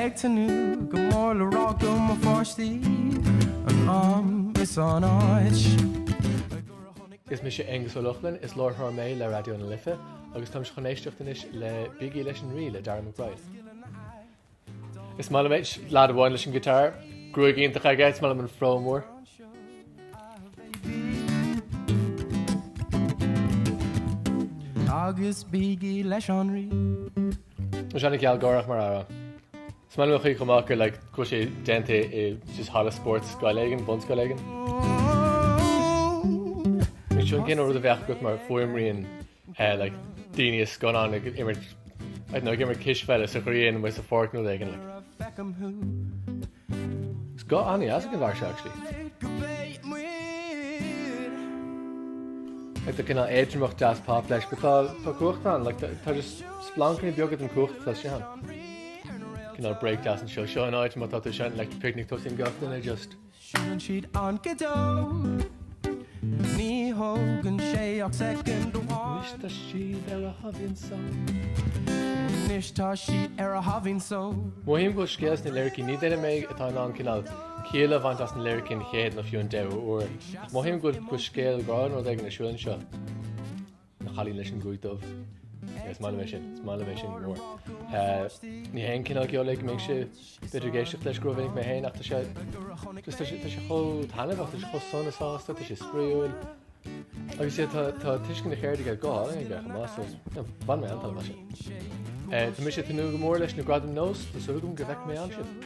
Ag tnúth go mór le rá go mba pháistí an am is an áit a gur a tháinig mé. Is mise Aonghus Ó Lochlainn, is láithreoir mé le Raidió na Life agus táimse chun éisteacht anois le Bígí leis an Rí le Darragh McBride. Is maith liom é, lad amháin leis an ghiotár, gruaig iontach aige, is maith liom an fro mór. Agus bígí leis an Rí. 's an-ghealgháireach mar amhrán. Is maith liom an chaoi chomh maith gur like go bhfuil sé déanta i just halla spóirt scoile éigin, bunscoil éigin. Sin an cineál rud a bheadh agat mar fuaimrian eh, like daoine i scannán ag imirt, I don't know, ag imirt cispheile sa ghrian nó sa pháirc nó rud éigin like. Is guth an-deas atá aige actually. Like tá cineál éadromacht deas pop leis but tá tá cumhacht ann like tá tá just splancanna beaga den chumhacht tá sé ann. Cineál break deas anseo. Seo an áit má tá tú ansin Electric Picnic tosaíonn gach duine just. Seileann siad an giotár. Ní thógann sé ach soicind amháin. Anois tá siad ar a thaibhín so. Anois tá siad ar a thaibhín so. Mothaím go bhfuil scéal sna liricí ní duine mé atá in ann cineál ciall a bhaint as na liricí an chéad nó fiú an deichiú uair ach mothaím go bhfuil scéal grá nó rud éigin ar siúl anseo. a chailín leis an ghruaig dhubh. Is maith liom é sin, is maith liom é sin go mór. Eh, ní hé an cineál ceoil a mbínnse b'fhéidir ag éisteacht leis go rómhinic mé féin ach tá sé agus tá sé tá sé chomh taitneamhach, tá sé chomh sona sásta, tá sé spraíúil. Agus sé tá tá tuiscint na ceirde aige go mbeadh más nó bhain mé an-sult as. Eh, tá mise ag tnúth go mór leis na Gradaim NÓS, tá súil agam go bhfeicfidh mé ansin.